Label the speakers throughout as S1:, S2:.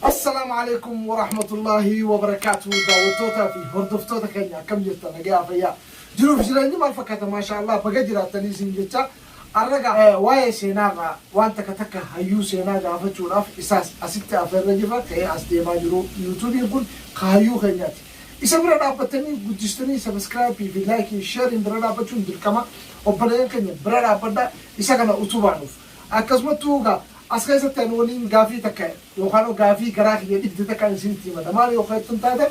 S1: Assalaamu Aleeykum Warahmatullaahi Wabarakaatuhu daawwattootaa fi hordoftoota keenya akkam jirta nagayaa fayyaa jiruu fi jireenyi maal fakkaata maashaa Allah baga jiraattanii isin jecha arraga waa'ee seenaa irraa waan takka takka hayyuu seenaa gaafachuudhaaf isaas asitti afeerra jirra ka'ee as deemaa jiru yuutuubiin kun ka hayyuu keenyaati isa bira dhaabbattanii guddistanii sabiskiraayipii fi laayikii sheeriin bira dhaabbachuun dirqama obboleeyyan keenya bira dhaabbadha isa kana utubaanuuf Akkasumattuu egaa as keessatti ani waniin gaafii takka yookaan gaafii garaa kiyya dhibde takkaan isinitti himadha. Maal yoo jettan taatan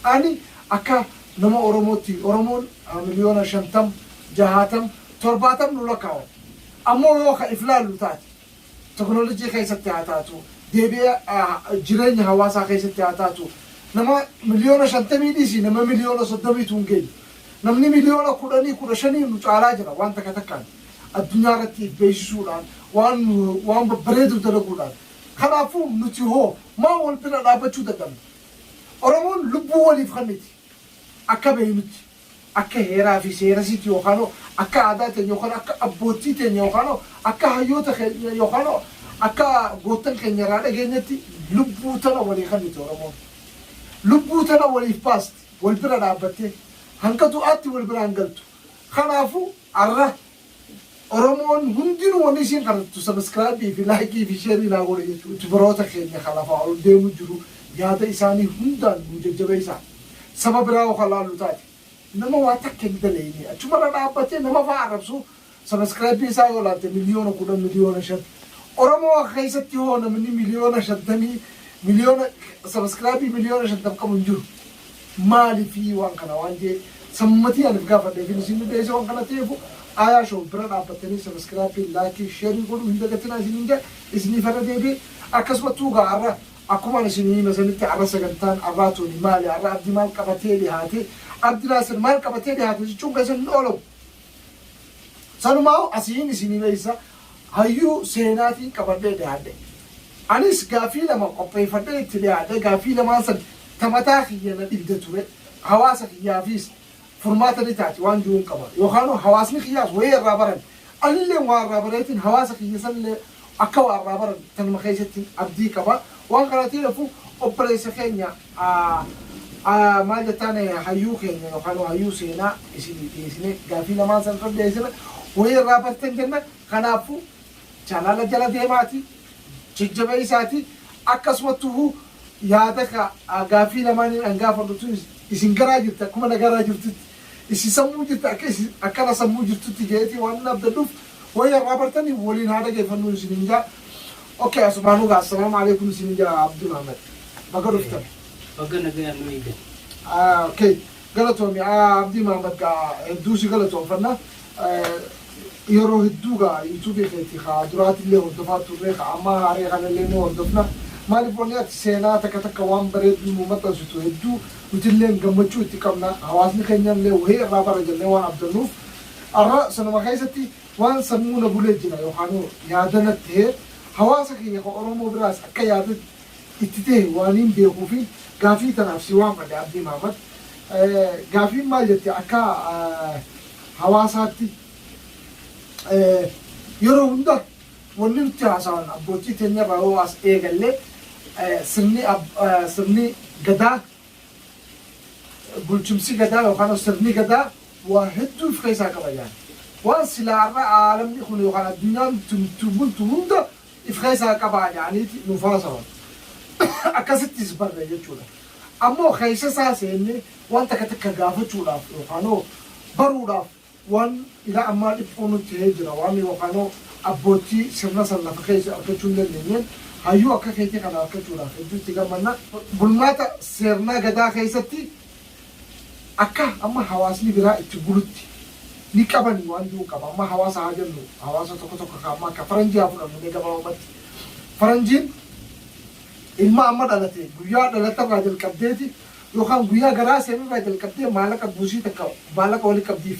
S1: ani akka nama Oromootti Oromoon miliyoona shantam, jahaatam, torbaatam nu lakkaawama. Ammoo yoo ka if laallu taate teknolojii keessatti haa taatu, deebi'ee jireenya hawaasaa keessatti haa taatu nama miliyoona shantamii dhiisii nama miliyoona soddomiitu hin geenyu. Namni miliyoona kudhanii, kudha shanii nu caalaa jira waan takka takkaan. addunyaa irratti if beeksisuudhaan, waan, waan babbareedu dalaguudhaan. Kanaafuu nuti hoo maa wal bira dhaabbachuu dadhabna? Oromoon lubbuu waliif kanniti. Akka beeknutti, akka heeraa fi seerasiitti yookaan hoo akka aadaa teenya yookaan akka abboottii teenya yookaan hoo akka hayyoota keenya yookaan hoo akka goottan keenya irraa dhageenyetti lubbuu tana walii kanniti Oromoon. Lubbuu tana waliif baasti, wal bira dhaabbattee. Hanga du'aatti wal biraan galtu. Kanaafuu. Arra oromoon hundinu wani isiin kadhattu subscribe fi like fi share naa godha jechu tbrota keenya ka lafaa ol deemu jiru yaada isaani hundaan nuu jajjabeessa saba biraa yoo ka laallu taate nama waa takka hin daleeyne achuma irra dhaabbatee nama faa arrabsu subscribe isaa yoo laalte miliyoona kudhan miliyoona shan oromoo keessatti hoo namni miliyoona shantamii miliyoona subscribe miliyoona shantam qabu hin jiru Maalifi waan kana waan jee san matii anif gaafadhe fi isin dhibeese waan kana teefu Ayaa show bira dhaabbattanii subscribe like share godhuu hin dagatinaa isinin jaa isinif irra deebi'e akkasumattuu gaa arra akkumaan isinii hime sanitti arra sagantaan arraa tuni maali arra abdi maal qabatee dhihaate abdi naasir maal qabatee dhihaate jechuun keessan hin oolamu Sanumaahu asiin isinii beeksisa hayyuu seenaatiin qabadhee dhiyaadhe. Anis gaaffii lama qopheeffadhee itti dhiyaadhe gaaffii lamaan san ta mataa kiyya na dhibde ture hawaasa kiyyaafiis furmaata ni taati waan jiruun qaba yookaanuu hawaasni kiyyaas wayii irraa baran anilleen waa irraa bareetiin hawaasa kiyya sanillee Akka waa irraa baran tanuma keessattin abdii qaba. Waan kanaatiin hafu obboleessa keenya maal jettaan hayyuu keenya yookaan hayyuu seenaa isinii dhiyeessine gaaffii lamaan san irra dhiyeessine wayii irraa bartan jenna. Kanaaffu chaanaala jala deemaati jajjabeessaati akkasumattuhu yaada gaaffii lamaaniin an gaafadhu tunis isin garaa jirti akkuma na garaa jirtutti Isi sammuu jirti akka isi akka ana sammuu jirtutti jeeti waanin abdadhuf wayii har'aa bartani waliin haa dhagefannuu isinin jaa ok asumaanuu gaa assalaamu aleekum isinin jaa abdul ahmed baga dhuftan. Baga nagayaan
S2: nu eegdan. ok
S1: galatoomi abdii mahamad gaa hedduu si galatoomfanna Yeroo hedduu gaa youtube keeti ka duraatillee hordofaa turre ka ammaa haaree kanallee ni hordofna maaliif wanni ati seenaa takka takka waan bareedduu nuu maxxansitu hedduu nutilleen gammachuu itti qabna hawaasni keenyallee wahii irraa bara jennee waan abdannuuf arra sanuma keessatti waan sammuu na bulee jira yookaanuu yaada natti tahe hawaasa kiyya ka oromoo biraas akka yaada itti tahe waaniin beekuufiin gaafii tanaaf si waammadhe Abdii Maamad. Gaafiin maal jette akka hawaasaatti yeroo hunda wanni nutti haasawan abbootii teenya irraa yoo as eegallee sirni sirni gadaa bulchumsi gadaa yookaan sirni gadaa waa hedduu of keessaa qaba jedhan. Waan silaa har'a aalamni kun yookaan addunyaan ittiin bultu hunda if keessaa qabaa ja'aniiti nuuf haasawan. Akkasittis barre jechuudha. Ammoo keessa isaa seennee waan takka takka gaafachuudhaaf yookaanoo baruudhaaf waan ila ammaa dhiphuu nutti ta'ee jira. Waan yookaanoo abboottii sirna san lafa keessa argachuu hin dandeenyeen hayyuu akka keetii kana argachuudhaaf hedduu itti gammanna. Bulmaata seernaa Gadaa keessatti Akka amma hawaasni biraa itti bulutti ni qabani waan ji'uun qaba. Amma hawaasa haa jennu hawaasa tokko tokko ka amma akka faranjii haa fudhannu mee gabaabumatti. Faranjiin ilma amma dhalate guyyaa dhalate irraa jalqabdeeti yookaan guyyaa garaa seenerraa jalqabdee maalaqa buusii takka maalaqa wali qabdiif.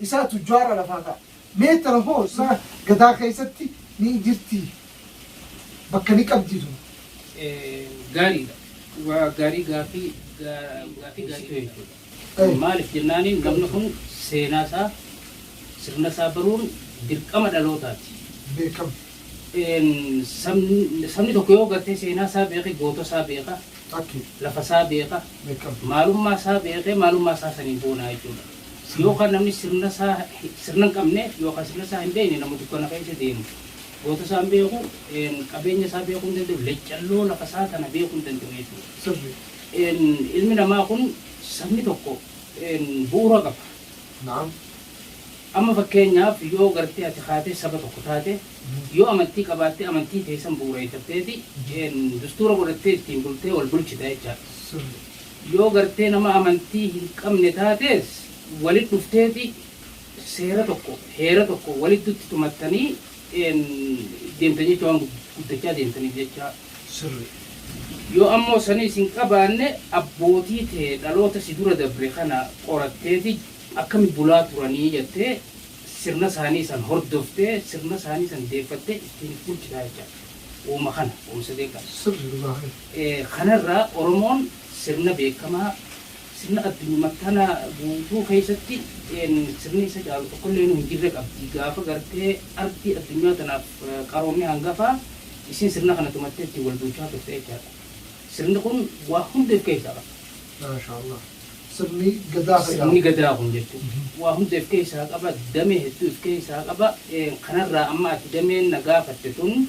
S1: isaa tujjaara lafaa ta'a. Meetara hoo saa gadaa keessatti ni jirtii? Bakka ni qabdii tun?
S2: Gaariidha. Waa gaarii gaaffii gaaffii gaarii jechuudha. Maaliif jennaaniin namni kun seenaa isaa sirna isaa baruun dirqama dhalootaati.
S1: Beekama.
S2: Sabni tokko yoo gartee seenaa isaa beeke goota isaa beeka. Lafa isaa beeka. Maalummaa isaa beekee maalummaa isaa saniin boonaa jechuudha. Yookaan namni sirna isaa sirna hin qabne yookaan sirna isaa hin beekne nama dukkana keessa deemu goota isaa hin beeku, qabeenya isaa beekuu hin danda'u, leccalloo lafa isaa tana beekuu hin danda'u jechuudha. Ilmi namaa kun sabni tokko bu'uura qaba.
S1: Amma
S2: fakkeenyaaf yoo gartee ati kaatee saba tokko taate yoo amantii qabaattee amantii teessan bu'uureeffatteeti dustuura godhattee ittiin bultee wal bulchita jechaadha. Yoo gartee nama amantii hin qabne taatees walit dhufteeti seera tokko, heera tokko waliddutti tumattanii deemtan jecha waan guddachaa deemtaniif jecha sirri. Yoo ammoo saniis hin qabaanne abbootii tee dhaloota si dura dabre kana qoratteeti akkami bulaa turanii jattee sirna saanii san hordoftee sirna saanii san deeffattee ittiin if bulchitaa jecha uuma kana uuma sadeeqan. Sirri dhugaa kee. Kana irraa Oromoon sirna beekamaa, sirna addunyuma tana guutuu keessatti sirni isa caalu tokkolleenu hin jirre qabdi. Gaafa gartee ardii addunyaa tanaaf qaroomni hangafaa isiin sirna kana tumattee ittiin wal bulchaa turte jechaadha. Sirni kun waa hunda if keessaa qaba. Maashaallah.
S1: Sirni Gadaa ka jedhamu. Sirni Gadaa kun jechuun
S2: waa hunda if keessaa qaba, damee hedduu if keessaa qaba. Kana irraa amma ati dameen na gaafatte tun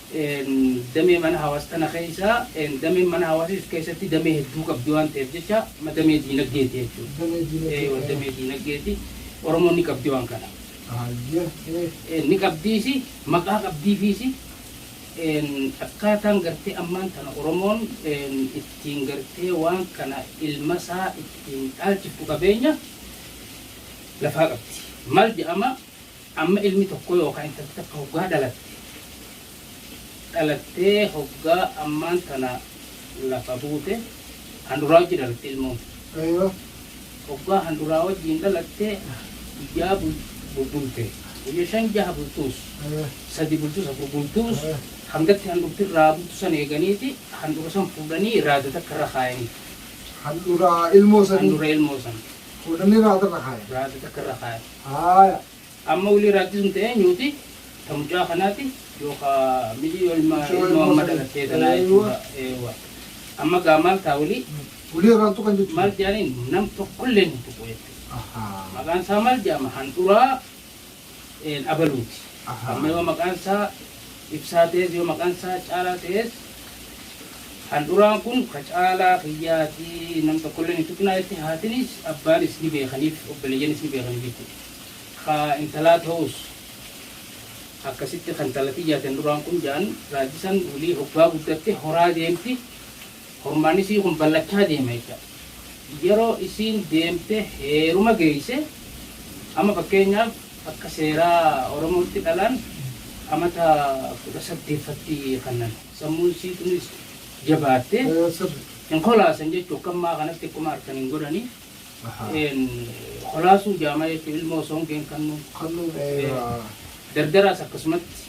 S2: damee mana hawaas kana keessa dameen mana hawaas of keessatti damee hedduu qabdi waan ta'eef jecha damee diinagdeeti jechuudha. Damee diinagdee. Eewa damee diinagdeeti. Oromoon ni qabdi waan kana. Hayyee. Ni qabdiisi maqaa qabdiifiisi akkaataan gartee ammaan tana Oromoon ittiin gartee waan kana ilma isaa ittiin dhaalchiftu qabeenya lafaa qabdi. Maal jedhama Amma ilmi tokko yookaa intalti takka hoggaa dhalatte, dhalattee hoggaa ammaan tana lafa buute, handuraa wajji dhalatti ilmoon. Hoggaa handuraa wajjiin dhalatte, guyyaa bulbulte, guyya shan jaha bultuus, sadi bultuus, afur bultuus, hangatti handhurti irraa butu san eeganiiti, handhura san fuudhanii raada takka irra kaayanii. Handhura
S1: ilmoo sanii. Handhura ilmoo san.
S2: Fuudhanii raada irra
S1: kaayan. Raada takka irra kaayan.
S2: Haaya, amma wlii raajjii sun ta eenyuuti? Ta mucaa kanaati yookaa mijii ilma Mucaa ilmoo ilmoo amma sanii. dhalattee tanaa Eewwa. jechuudha. Eewwa. Amma gaa maal taa wlii? Wlii irraan tuqan
S1: jechuudha. Maal jaaniin nam
S2: tokkolleen hin tuqu jechuudha. Ahaa. Maqaan isaa maal jaama? Handhuraa een, abaluuti. Ahaa. Amma yoo maqaan isaa Ibsaa ta'ees yoo maqaan isaa Caalaa ta'ees handhuraan kun ka Caalaa kiyyaa ti nam tokkolleen hin tuqinaa jettee haatinis abbaanis ni beekaniif obboleeyyanis ni beekaniif jechuudha. Ka intalaa ta'uus akkasitti ka intala tiyyaa ti handhuraan kun ja'an raajji san wly hoggaa guddatte horaa deemti. Hormaan isii kun ballachaa deema jecha. Yeroo isiin deemte heeruma geeyse amma fakkeenyaaf akka seeraa Oromootti dhalaan amata 18 fatti kannan. Sammuun isii tunis jabaatte hin kolaasan jechu akka ammaa kanatti akkuma arkan hin godhani. Een kolaasuu jaama jechu ilmoo osoo hin geen kannuu. Dardaraas akkasumatti.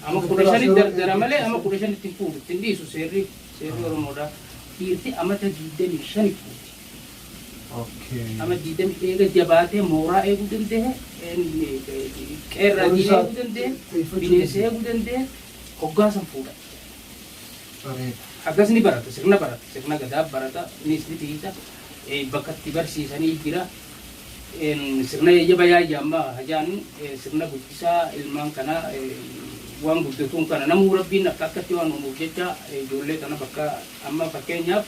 S2: Ama 15 dardara malee ama 15 itti hin fuudhu itti hin dhiisu seerri. Seerri Oromoodhaa dhiirti amata 25 guutti. Amata 20 eega jabaatee mooraa eeguu danda'e, qeerraa diina eeguu danda'e, bineensa eeguu danda'e hoggaa san fuudha. Haggas ni barata, sirna barata, sirna Gadaa barata, innis ni tiiysa, bakka itti barsiisanii jira. Sirna yayyaba yaayya ammaa ha jaanu sirna guddisaa ilmaan kana waan guddatuun kana namuu rabbiin akka akkatti waan uumuuf jecha ijoollee kana bakka amma fakkeenyaaf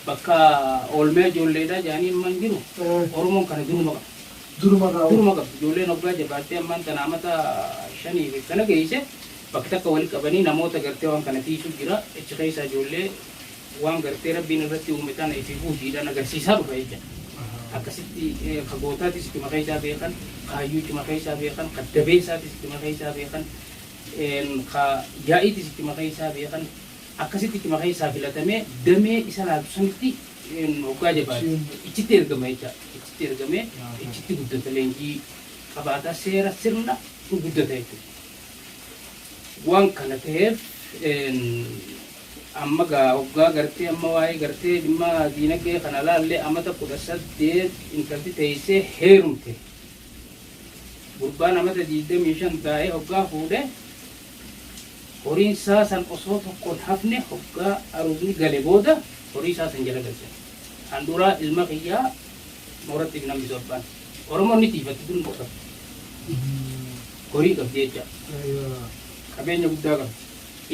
S2: bakka oolmee ijoolleedha jaanii amma hin jiru oromoon kana duruma qaba. Duruma irraa duruma qaba ijoolleen hoggaa jabaattee ammaan tana amata shanii fi kana geeyse bakka takka wali qabanii namoota gartee waan kana tiisuu jira achi keessaa ijoollee waan gartee Rabbiin irratti uume tana ifi buusiidhaan agarsiisaa dhufa jechaadha. Akkasitti ka gootaatis ittuma keessaa beekan, kaayyuu ittuma keessaa beekan, ka dabeessaatis ittuma keessaa beekan, ka yaa'iitis ittuma keessaa beekan, akkasitti ittuma keessaa filatamee damee isa laaltu sanitti hoggaa jabaate ichitti ergama jechaadha. Ichitti ergamee ichitti guddata leenjii qabaata seera sirna guddata jechuudha. Waan kana ta'eef Amma gaa oggaa gartee amma waa'ee gartee dhimma diinagdee kana laallee amata 18 intalti teessee heerumte. Gurbaan amata 25 taa'ee hoggaa fuudhe horiin isaa san osoo tokkoon hafne hoggaa aruuzni gale booda horii isaa san jala galchan. Handhuuraa ilma kiyyaa mooratti hin hambisu abbaan. Oromoon ni tiifatti kun dhokatti. Horii qabdi jecha. Qabeenya guddaa qabdi.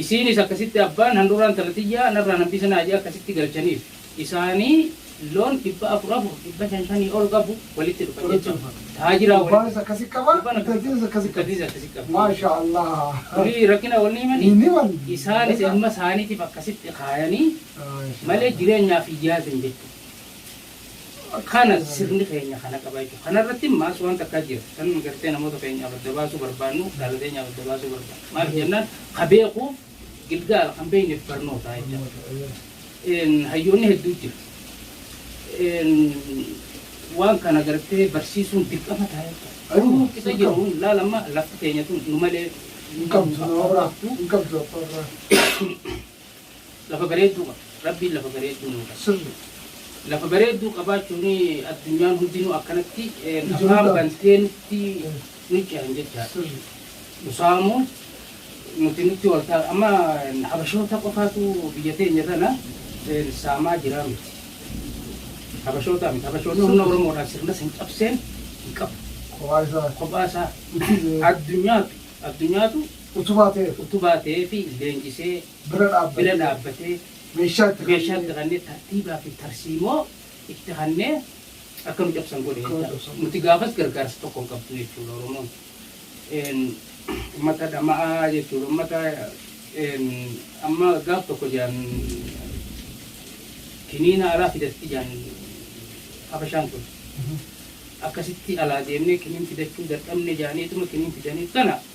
S2: Isiinis akkasitti abbaan handhuuraa intala tiyyaa narraa nambisa naa je'e akkasitti galchaniif. Isaanii loon dhibba afur afur, dhibba shan shanii ol qabu walitti dhufan jechuudha. Taajiraa walitti. Gurbaanis akkasi qaba,
S1: Gurbaan akkasi intaltiinis qaba. akkasi qabdi. Intaltiinis
S2: akkasi qabdi. Maashaa Allaah.
S1: Durii rakkina
S2: wal ni himanii? Hin himan. Isaanis Egaa. ilma isaaniitiif akkasitti kaayanii Maashaa malee Allaah. jireenyaaf hin yaadan jechuudha. Kana sirni keenya kana qaba jechuudha. Kana irratti immaas waan takkaa jira. Kan nuyi gartee namoota keenyaaf adda baasuu barbaannu, dhaala teenyaaf adda baasuu barbaannu. Maaliif jennaan ka beekuuf gilgaala, kan beekneef barnoota jechuudha. Hayyoonni hedduu jira. Waan kana gartee barsiisuun dirqama ta'a jechuudha. Garuu isa jiru laal amma lafti teenya tun nu malee hin qabdu. Hin qabdu abbaa irraa. Lafa bareedduu qaba. Rabbiin lafa bareedduu nuu qaba. Sirri. Lafa bareedduu qabaachuun addunyaan hundinuu akkanatti afaan bantee nutti nu cehan jechaadha. Sirri. Nu saamuu nuti nutti wal ta'a. Amma habashoota qofaatu biyya teenya tana saamaa jira miti. Habashoota miti. Habashoonni humna Oromoodhaan sirna san cabseen hin qabu. Kophaa isaa. Kophaa isaa. Addunyaatu addunyaatu Utubaa ta'eef. Utubaa ta'eef leenjisee. Bira dhaabbatee. Bira dhaabbatee. Meeshaa itti kennee. Meeshaa itti kennee tartiibaa fi tarsiimoo itti kennee akka nu cabsan godhe jechuudha. Akka nu cabsan godhe. Nuti gaafas gargaarsa tokko hin qabdu jechuudha Oromoon. Uummata dhama'aa jechuudha. Uummata amma gaaf tokko jedhan kiniina alaa fidatti jedhan Habashaan kun. Akkasitti alaa deemnee kiniin fidachuu dadhabne jedhaniituma kiniin fidaniif kana.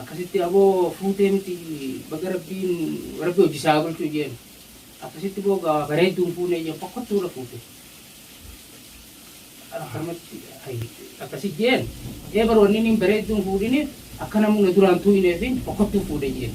S2: Akkasitti aboo fuutee miti baga rabbiin rabbi hojji isaa haa bulchuu jeen akkasitti boo gaa bareedduu hin fuunee jeen fokkottuu irra fuute akkanumatti ayyi akkasi jeen ee bar wanni niin bareedduu hin fuudhini akka namni na duraan tuuyineefin fokkottuu fuudhe jeen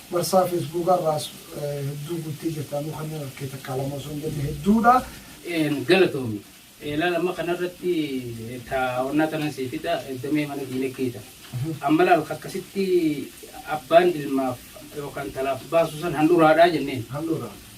S1: Marsaa Feesbuukaa irraas hedduu guuttee jirta. Anuu kanneen arke takkaa lama osoo hin jenne hedduudha. Een galatoomi.
S2: Ilaal amma kanarratti taa'onnaa tanan sii fida damee mana diinagdee tana. Amma ilaal akkasitti abbaan ilmaaf yookaan intalaaf baasu san handhuraadhaa jenneen. Handhuraa.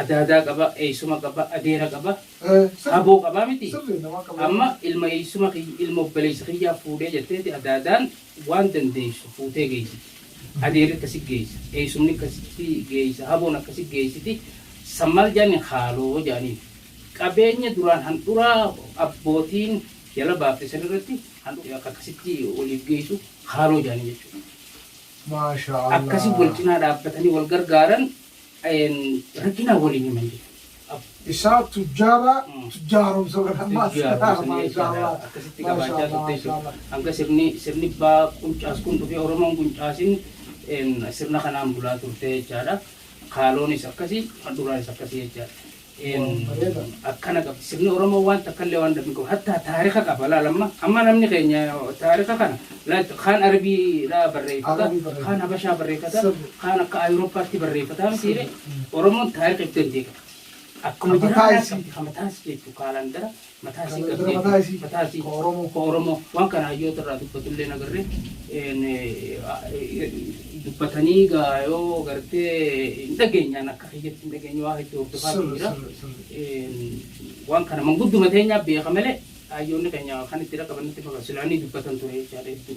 S2: Adaadaa qaba, eessuma qaba, adeera qaba, aboo qaba miti? Amma ilma eessuma kiyya, ilma obboleessa kiyyaa fuudhee jetteeti adaadaan waan dandeessu fuutee geessiti. Adeerri akkasi geessa, eessumni akkasitti geessa, aboon akkasi geessiti. San maal jedhaniin haaloo jedhaniin. Qabeenya duraan handhuraa abbootiin jala baafte san irratti handhuraa akka akkasitti waliif geessu haaloo jedhaniin jechuudha.
S1: Akkasi wal cinaa dhaabbatanii
S2: wal gargaaran Rakkina waliin himan jedhan. Isaa
S1: tujjaara tujjaaromsa godhan maashaallaa maashaallaa akkasitti
S2: qabaachaa turte jechuudha. Hanga sirni sirni baa quncaas kun dhufee Oromoon quncaasin sirna kanaan bulaa turte jechaadha. Kaaloonis akkasi, handhuuraanis akkasi jechaadha. Een akkana qaba sirni oromoo waan takkallee waan dhabni qabu hattaa taarika qaba laal amma amma namni keenya taarika kana laal kaan arbiidhaa barreeffata kaan habashaa barreeffata kaan akka ayuroppaatti barreeffata mitiire oromoon taarika ibsa hin deeqabdi akkuma jiraa kamataa isii jechuun kaalandara Mataa isii Kana dura qabdee mataa isii. mataa isii Ka Oromoo. ka Oromoo waan kana hayyoota irraa dubbatullee nagarre een, eh, dubbatanii gaa yoo gartee hin dhageenyaan akka kiyyatti hin dhageenye waa hedduu hordofaa Sirri, jira. sirri, sirri. Een, waan kana mangudduma teenyaa beeka malee hayyoonni keenya kan itti dhaqaban nutti fakkaatu silaanii dubbatan ture jechaadha hedduu.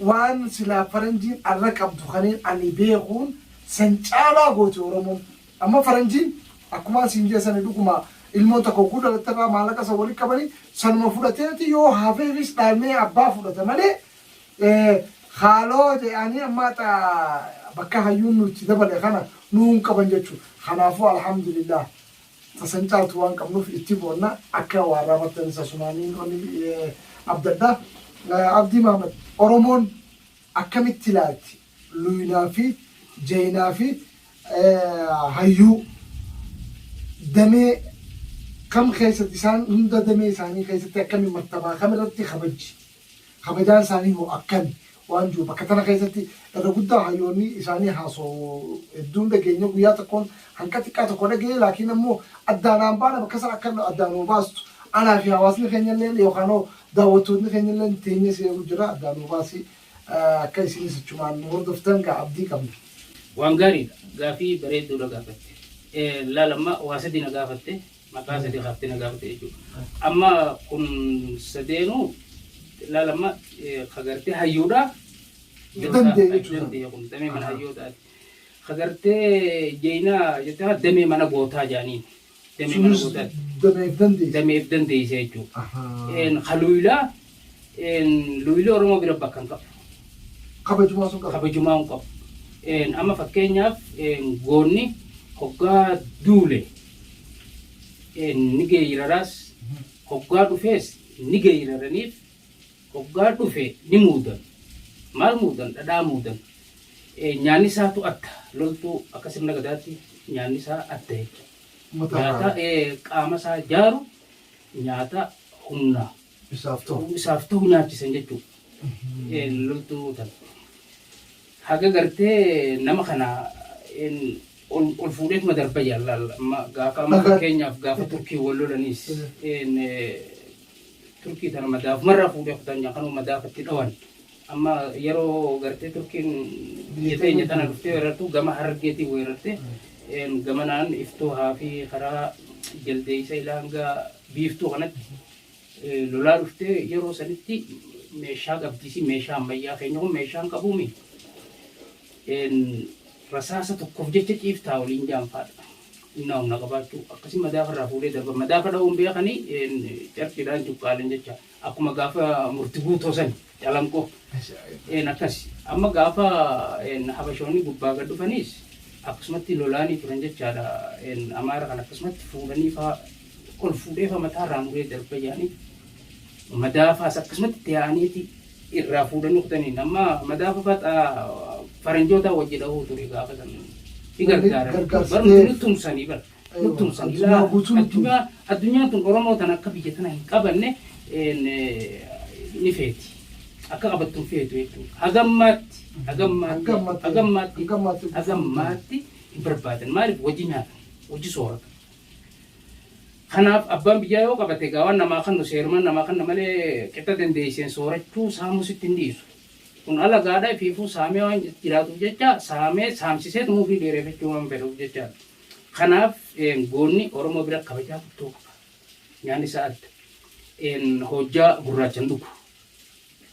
S1: Waan silaa faranjiin arra qabdu kaneen ani beekuun san caalaa gooti oromoon. Amma faranjiin akkumaan siin jee sani dhuguma ilmoon takka hogguu dhalatte irraa maallaqa san walitti qabanii sanuma fudhateeti yoo hafeefis dhaalmee abbaa fudhata malee haaloo je'aanii amma haxa bakka hayyuun nu itti dabale kana nuu hin qaban jechuu. Kanaafuu alhamdulillaah. ta san caaltu waan qabnuuf itti boonna akka waarraa bartanis asumaaniin onni abdadha Abdii Mahamad Oromoon akkamitti ilaalti luynaa fi jaynaa fi hayyuu damee kam keessatti isaan hunda damee isaanii keessatti akkami martabaa kam irratti kabajji Kabajaan isaanii hoo akkami? waan jiru bakka tana keessatti irra guddaa hayyoonni isaanii haasawu hedduu hin dhageenye guyyaa tokkoon hanqa xiqqaa tokko dhagee laakiin ammoo addaa naan baana bakka san akka addaa nuu baastu anaa fi hawaasni keenya illeen yookaan hoo daawwattootni keenya illeen teenyee si eegu jira addaa nuu baasi akka isinis achumaan nu hordoftan gaa abdii qabna. Waan gaariidha.
S2: Gaafii bareedduudha gaafatte. Laal amma waa sadi na gaafatte. mataa sadii kaafte na gaafate jechuudha. Amma kun sadeenuu laal amma kagartee hayyuudha. Dandee jechuudha. Dandee kun damee mana hayyootaati. Kagartee jeenaa jettee damee mana gootaa jaaniin. Damee mana gootaati. Dameef dandeesse. Dameef dandeesse jechuudha. Kaluuyilaa Een, luuyilii Oromoo bira bakka hin qabu. Kabajumaa
S1: sun qaba. kabajumaa hin qabu.
S2: Een, Amma fakkeenyaaf een, goonni hoggaa duule een, ni geeyraraas hoggaa dhufees ni geeyraraniif hoggaa dhufe ni muudan. Maal muudan? Dhadhaa muudan. Een, Nyaanni isaatu adda. Loltuu akka sirna gadaatti nyaanni isaa adda jechuudha. Uummata Nyaata irraa. ee, qaama isaa jaaru nyaata humna Isaaf ta'u. isaaf ta'u nyaachisan jechuudha. Eh, Loltuu tana. Haga gartee nama kana en, ol ol fuudheetuma darba jaalala. Amma Gaafa amma Akka- fakkeenyaaf gaafa turkii wal lolanis en, eh, turkii tana madaafumarraa fuudhee kutan kanuma madaafatti dhawan. Amma yeroo gartee turkiin biyya teenya tana dhuftee weerartu gama harargeetiin weerarte en, gamanaan iftuu haafii karaa jaldeeysa ilaangaa biiftuu kanatti lolaa dhuftee yeroo sanitti meeshaa qabdiisi meeshaa ammayyaa keenya kun meeshaa hin qabuumi rasaasa tokkoof jecha ciiftaa waliin jaanfaadha innaa humna qabaachuu akkasii madaafa irraa fuudhee darba madaafa dha'uun beekanii carqiidhaan cuqqaalan jecha akkuma gaafa murti guutoo sani Calanqoo. Een akkas. Amma gaafa een habashoonni gubbaa gad dhufaniis akkasumatti lolaanii turan jechaadha. Een amaara kan akkasumatti fuudhanii faa ol fuudhee faa mataa irraa muree darbayyaanii madaa faas akkasumatti itti yaa'aniiti irraa fuudhanii kutaniin. Amma madaa faa faxaa faranjootaa wajji dhahuu ture gaafa san. Ni gargaaran. Gargaarsa Barumsa ta'eef. ni tumsanii bara. Guutuun san Addunyaa silaa guutuun itti- addunyaa addunyaan tun Oromoo tan akka biyya tana hin qabanne een, eh, ni feeti. Akka qabattu hin feetu jechuudha. Hagammaatti hagammaatti Hagammaatti. hagammaatti Hagammaatti. hagammaatti hin barbaadan. Maaliif wajji nyaata wajji soorata. Kanaaf abbaan biyyaa yoo qabate egaa waan namaa kannu seerumaan namaa kanna malee qixa dandeesseen soorachuu saamuu sitti hin dhiisu. Kun alagaadha fiifuu saamee waan jiraatuuf jecha saamee saamsisee tumuufii dheereffachuu waan fedhuuf jechaadha. Kanaaf goonni Oromoo bira kabajaa guddoo qaba. Nyaanni isaa adda. Hojjaa gurraachan dhugu.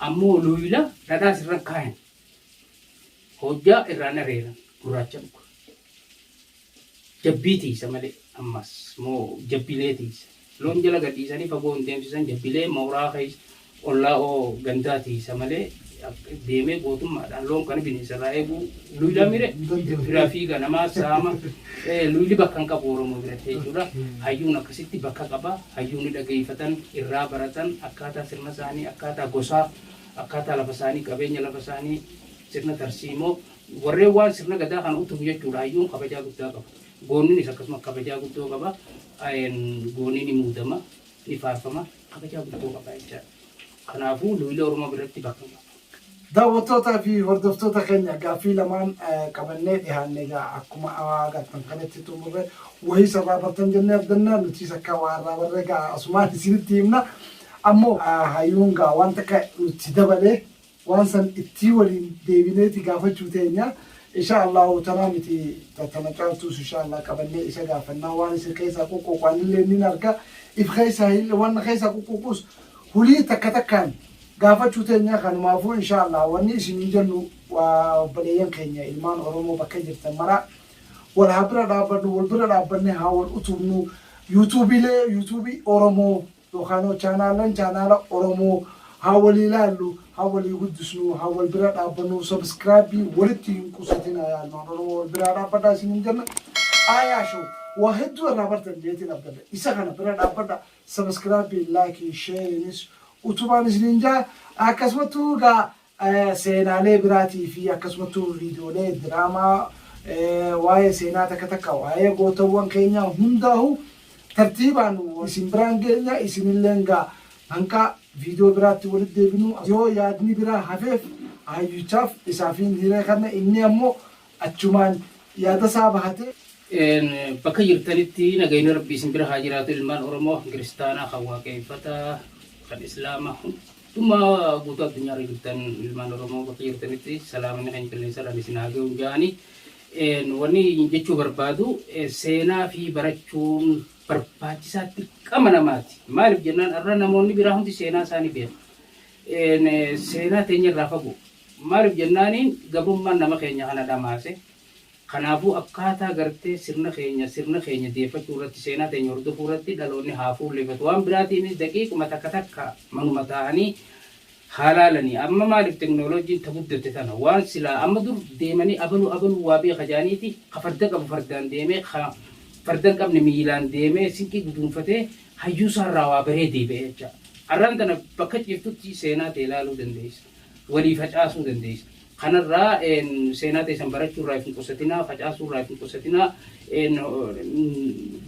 S2: Ammoo luuyla dhadhaas irran kaayan. Hojjaa irraan areeran gurraacha dhuga. Jabbii tiiysa malee ammas moo jabbilee tiiysa. Loon jala gadhiisanii fagoo hin deemsisan jabbilee mooraa keessa ollaa oo gandaa tiisa malee deemee gootummaadhaan loon kana bineensa irraa eeguu luylaa mire biraa fiiga namaa saama luyli bakka hin qabu oromoo biratti jechuudha hayyuun akkasitti bakka qaba hayyuun dhageeffatan irraa baratan akkaataa sirna isaanii akkaataa gosaa akkaataa lafa isaanii qabeenya lafa isaanii sirna tarsiimoo warreen waan sirna gadaa kana utubu jechuudha hayyuun kabajaa guddaa qaba. Gooninis akkasuma kabajaa guddoo qaba. Goonii ni muudama, ni faarfama, kabajaa guddoo qaba jechaadha. Kanaafuu luuila Oromoo biratti bakka hin qabu. Daawwattootaa
S1: fi hordoftoota keenya gaaffii lamaan qabannee dhihaanne egaa akkuma agartan kanatti xumurre wahii isarraa bartan jennee abdanna nutiis akka waa irraa barre egaa asumaan isinitti himna ammoo hayyuun gaa waan takka nutti dabalee Waan san ittii waliin deebineeti gaafachuu teenya inshaa Allahu tanaa miti ta tana caaltuus inshaa Allah qabannee isa gaafannaa waan isin keessaa quqquuqu anillee nin arga if keessaa hin wanna keessaa quqquuquus hulii takka takkaan gaafachuu teenya kanumaafuu inshaa Allah wanni isiniin jennu waa obboleeyyan keenya ilmaan Oromoo bakka jirtan maraa wal haa bira dhaabbannu wal bira dhaabbannee haa wal utubnu yuutuubiilee yuutuubii Oromoo Yookaanoo chaanaallan chaanaala oromoo haa walii laallu haa walii guddisnuu haa wal bira dhaabbannuu subscribe walitti hin qusatinaa yaa ilmaan oromoo wal biraa dhaabbadhaa isiniin jenna Aayaa show waa hedduu irraa bartan jeetiin abdadha isa kana bira dhaabbadhaa subscribe like share nis utubaan isiniin jaa akkasumattuu gaa Seenaalee biraatii fi akkasumattuu viidiyoolee diraamaa waa'ee seenaa takka takka waa'ee gootawwan keenyaa hundaahu tartiibaan isin biraan geenya isinilleen gaa hanga viidiyoo biraatti walitti deebinu yoo yaadni biraa hafeef hayyuchaaf isaafiin hiree kanna inni ammoo achumaan yaadasaa bahatee. Bakka
S2: jirtanitti nagayni Rabbii isin bira haa jiraatu ilmaan Oromoo kan kiristaanaa kan waaqeeffataa kan islaamaa Dhuma guutuu addunyaarra jirtan ilmaan Oromoo bakka jirtanitti salaamanni keenya qilleensarraan isin haa ga'u jaani. Wanni jechuu barbaadu seenaa fi barachuun barbaachisaa dirqama namaati. Maaliif jennaan har'a namoonni biraa hundi seenaa isaanii beeku. Seenaa teenya irraa fagoo. Maaliif jennaaniin gabrummaan nama keenya kana dhamaase. Kanaafuu akkaataa gartee sirna keenya sirna keenya deeffachuu irratti seenaa teenya hordofuu irratti dhaloonni haa fuulleeffatu. Waan biraatiinis daqiiquma takka takka manuma taa'anii haa laalanii. Amma maaliif teknoloojiin ta guddatte tana waan silaa amma dur deemanii abalu abalu waa beeka jedhaniiti ka farda qabu fardaan deemee ka farda hin qabne miilaan deemee sinqii guduunfatee hayyuu isaa irraa waa baree deebi'a jecha. Arraan tana bakka ciiftutti seenaa tee laaluu dandeessa. Walii facaasuu dandeessa. Kanarraa seenaa teessan barachuu irraa if hin qusatinaa, facaasuu irraa if hin qusatinaa,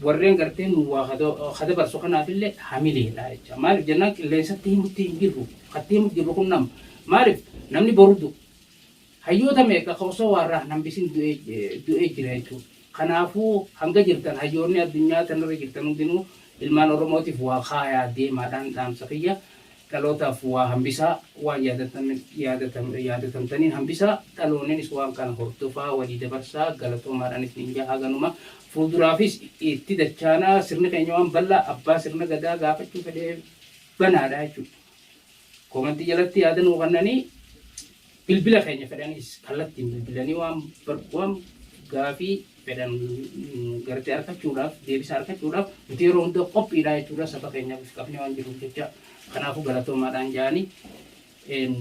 S2: warreen gartee nu waa ha dabarsu kanaaf illee hamileedha jecha. Maaliif jennaan qilleensatti himutti hin jirru. Katti himutti jirru kun nama. Maaliif namni boru du'a. Hayyoota meeqa ka osoo waarraa hin hambisin du'ee jira jechuudha. Kanaafuu hanga jirtan hayyoonni addunyaa tanarra jirtan hundinuu ilmaan Oromootiif waa kaayaa deemaadhaan dhaamsa kiyya. Dhalootaaf waa hambisaa, waan yaadatamtaniin hambisaa, dhaloonninis waan kana hordofaa walii dabarsaa galatoomaadhaan isiniin jaha haganuma fuulduraafis itti dachaanaa sirni keenya waan bal'aa abbaa sirna gadaa gaafachuu fedheef banaadha jechuudha. Komantii jalatti yaada nuu kennanii bilbila keenya fedhaniis kallattiin bilbilanii waan bar- waan gaafii fedhan gartee argachuudhaaf deebisaa argachuudhaaf nuti yeroo hunda qophiidhaa jechuudha saba keenyaaf if qabnee waan jiruuf jecha kanaafuu galatoomaadhaan ja'anii een,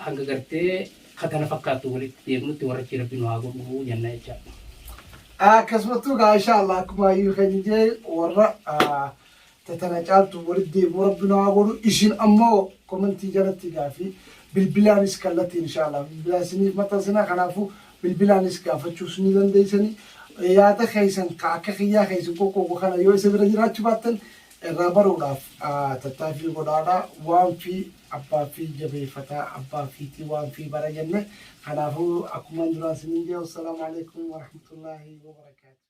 S2: hanga gartee katana fakkaattu walitti deemnutti warrachi rabbi nu haa godhu jenna jecha. Akkasumattuu
S1: gaa insha Allah akkuma ayyuu keenya jee warra ah, ta tana caaltu wali deebi'u rabbi nu haa godhu isin ammo komentii jalatti gaafii bilbilaanis kallattiin insha allah bilbilaa isiniif maxxansina kanaafu bilbilaanis gaafachuus ni dandeeysani yaada keeysan ka akka kiyyaa ka isin qoqqooqu kana yoo isa bira jiraachu baattan irraa baruudhaaf tattaafii godhaadha waanfi abbaafi jabeeyfata abbaafiiti waanfi bara jenne kanaafu akkuman duraan isiniin jee wassalaamu aleykum warahmatullaahi wabarakaatu.